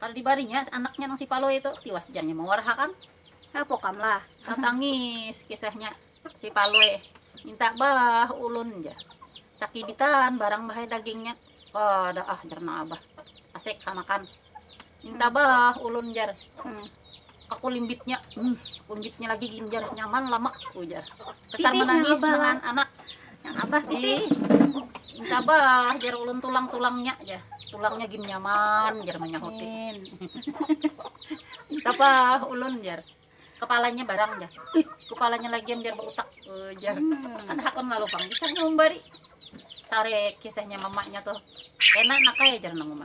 Kada dibarinya anaknya nang si Palui tu, tiwas jar nya mawarahakan. Hapokam lah, tatangis kisahnya si Palui, minta bah ulun jar, sakibitan barang bah ai dagingnya, kada ah jar nang abah, asik hamakan, minta bah ulun jar. Aku limbitnya, hmm, limbitnya lagi ginjar nyaman lama ujar. Kesan menangis dengan anak. Yang abah titi. Minta bah jar ulun tulang-tulangnya ya. Tulangnya gin nyaman jar menyahutin. Apa ulun jar kepalanya barang jar kepalanya lagi jar berutak uh, jar hmm. ada hakon lalu bang kisahnya umbari sare kisahnya mamanya tuh enak nak ya jar nang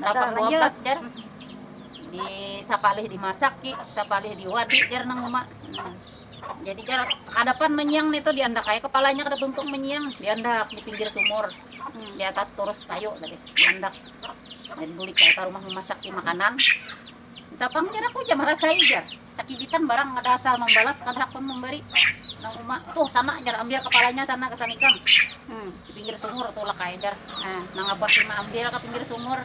Lapang dua belas jar. Di sapalih dimasak ki, sapalih diwadi jar nang uma. Hmm. Jadi jar kadapan menyiang nih tuh diandak kayak kepalanya kada tuntung menyiang diandak di pinggir sumur hmm. di atas turus kayu tadi diandak dan bulik kayak ke rumah memasak makanan tapang jar aku jar merasai jar Sakibitan barang kada asal mambalas kada hakun mambari nang uma tuh sana jar ambil kapalanya sana gasan ikam di pinggir sumur tulak ai jar nang abah si maambil ka pinggir sumur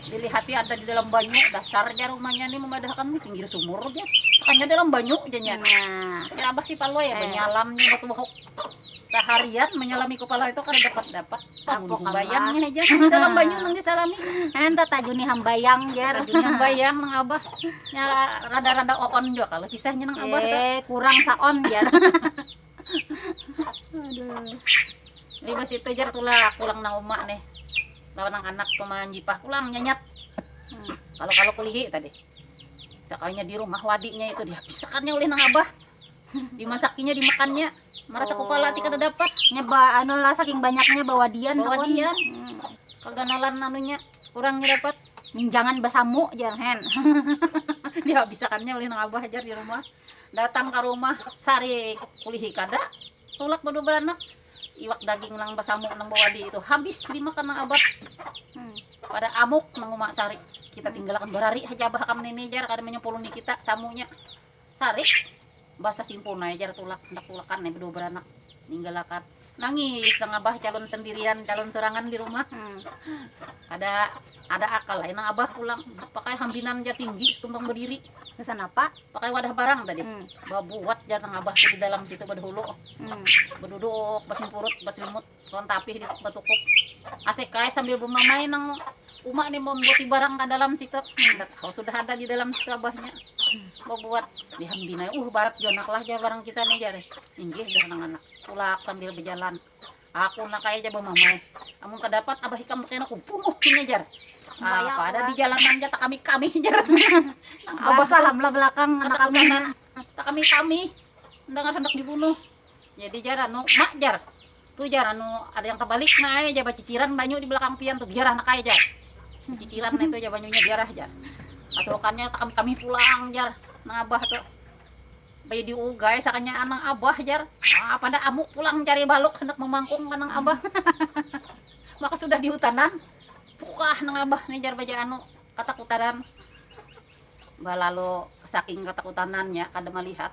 dilihati ada di dalam banyu dasar jar umanya ni mambadahakan di pinggir sumur jar sakanya dalam banyu jar nya nah jar abah si palui banyalam nya batuhuk. saharian menyalami kepala itu kada dapat dapat Tapok bayangnya aja di dalam banyu nang disalami anda tagu nih hambayang jar hambayang nang abah ya rada-rada oon juga kalau kisahnya nang abah eh, kurang saon jar aduh libas itu jar tulak pulang nang umak nih lawan nang anak kumahan jipah pulang nyanyat hmm. kalau kalau kulihi tadi sekalinya di rumah wadinya itu dihabisakannya oleh nang abah dimasakinya dimakannya merasa oh. kepala ti kada dapat nya ba anu lah saking banyaknya bawadian bawadian hmm. keganalan anunya kurangnya dapat minjangan basamu jar hen dihabisakannya oleh nang abah jar di rumah datang ke rumah sari kulihi kada tulak berdua beranak iwak daging nang basamu nang bawadi itu habis dimakan nang abah hmm. pada amuk nang umak sari kita tinggalkan berari haja abah kam nini jar kada menyempuluni kita samunya Sarik, basa simpun ai jar tulak, handak tulakan ai bedua beranak, ninggal akad. Nangis nang abah calon sendirian, calon surangan di rumah. Kada ada akal ai nang abah pulang, pakai hambinan jar tinggi setumpang bediri. Gasan apa? Pakai wadah barang tadi. Babuat jar nang abah tu di dalam situ bedahulu. Beduduk basimpurut, baselimut. Tuan tapih di batukuk. Asik ai sambil bamamai nang uma ni mambuati barang ka dalam situ. Handak oh sudah ada di dalam situ abahnya. Babuat. Lihat bina, uh barat jua nak lah jar barang kita ni jar. Inggih jar nang anak. Tulak sambil bajalan. Aku nak ai ja bamamai. Amun kadapat abah ikam kena kubunuh ini jar. Ah, apa ada di jalanan ja takami-kami jar. Nang abah Basah tu am lah belakang anak katakutan kami. nan takami-kami. Nang handak dibunuh. Jadi jar anu, ma jar, tu jar anu ada yang terbalik nah ai jar baciciran banyu di belakang pian tu biarah nak ai jar, baciciran nah itu jar banyunya biarah jar, katuhukannya takambih kambih pulang jar nang abah tu, baya di ugai sakanya nang abah jar, haa pada amu pulang cari baluk handak mamangkung ka nang abah maka sudah di hutanan puah nang abah ni jar baja anu katakutanan, balalu saking katakutanannya kada malihat.